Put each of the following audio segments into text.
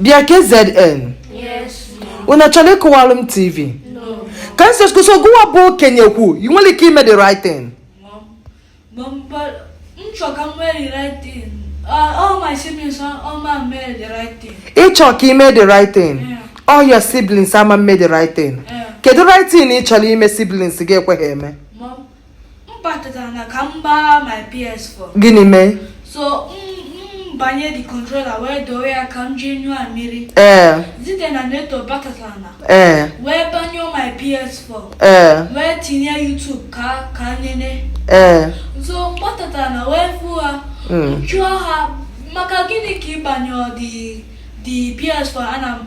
bịa KZN unu chọlụ ịkụwalụ m tv Kamsi ọsịsọ gụwa bụ okenye kwuo ị nwere ike ime the right thing ị chọ ka i mee the right thing all your siblings ama eme the right thing kedu right thing ị chọrọ ime siblings gị ekweghị eme batara na ka m gbaa my PS4 gịnị mee so m gbanye the controller wee doo ya ka m jee ṅụọ mmiri Zite na Neto batara na ee wee gbanyụọ my PS4 ee wee tinye YouTube ka ha nene ee so m batatara na wee fụ ha jụọ ha maka gịnị ka ị gbanyụọ the the PS4 ana m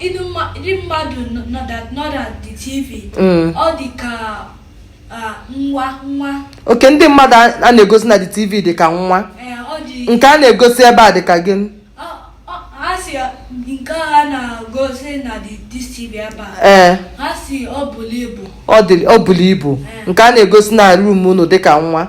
ndị mmadụ nọ na the tv mm. ọ dị ka nwa nwa okay ndị mmadụ a na-egosi na the tv dị ka nwa nke a na-egosi ebe a dị ka gịnị nke a na-egosi na this tv ebe a ee ha sị ọ bulu ibu ọ bulu ibu nke a na-egosi na room unu dị ka nwa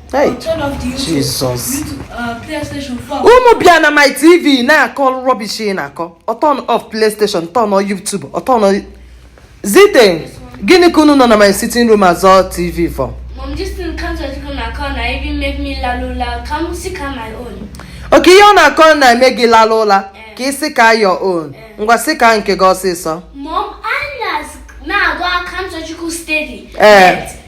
unu bịa na my tv na-akọ rubbish na-akọ ọ turn off playstation turn on youtube ọ turn on Zite gịnị ka unu nọ na my sitting room azọ tv for okay ihe ọ na-akọ na-eme gị lala ụla eh. ka ị sị ka your own eh. ngwa sị ka nke gị ọsịsọ na-agwa Kamsiyochukwu steady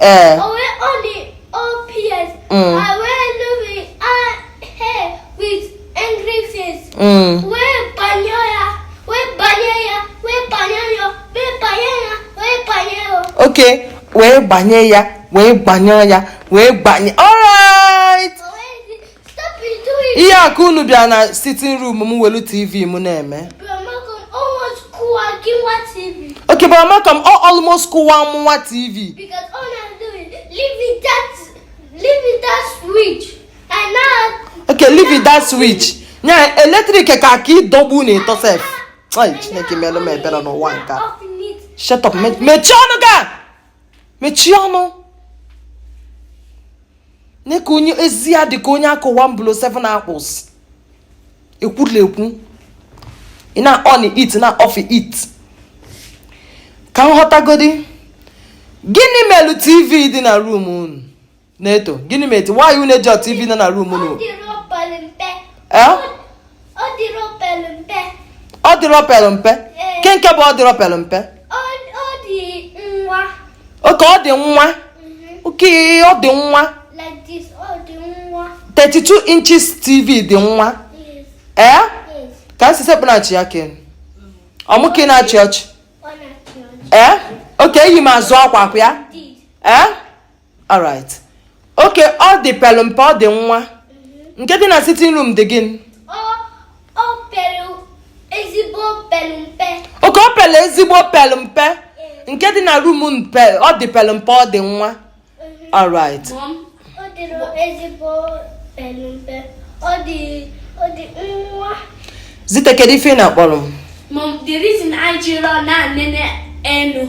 ee okay wee gbanye ya wee gbanye ya wee gbanye alright ihe a ka unu bịa na sitting room m welu tv m na-eme okay bụ amaka m ọ almost kụwa mụwa tv okay leave that switch nya electric ka ka ịdọgbu n'ịtọ sef chineke melụ m ebere n'ụwa nke a shut up mechie ọnụ gị a mechie ọnụ nee ka onye ezi ya dị ka onye a kụ one blow 7 akpus ekwulekwu ị na-on it na off it ka m ghọtagodi gịnị melụ tv dị na room unu neto gịnị mezi why unu eji tv nọ na rum unu ọ dịrọ pelụ mpe kee nke bụ ọ dịrọ pelụ mpe oke ọ dị nwa oke ọ dị nwa 32 inches tv dị nwa ee ka m si sekpụ na-achị ya ken ọ mụ ka ị na-achị ọchị ee oke eyi m azụ akwa akwa ya ee alright oke ọ dị pelụ mpe ọ dị nwa mhm. nke dị na sitting room dị gịnị oke o pelụ ezigbo pelụ mpe nke dị na rum unu ọ dị pelụ mpe ọ dị nwa mhm. alright zite kedu ife ị na-akpọrọ m the reason I jiri na-enene enu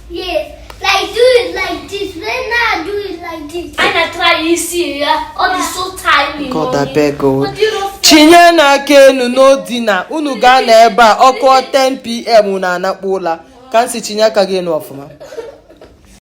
Yes, like do it like this. When I do it like this. I na try i see ya. Ọ dị so tiny. God abeg o. Chinienụ aka enu n'ọ dị na unu ga-ana ebe a ọ kụọ 10 pm na-anakpu ụla ka m si chinie aka gị enu ọfụma.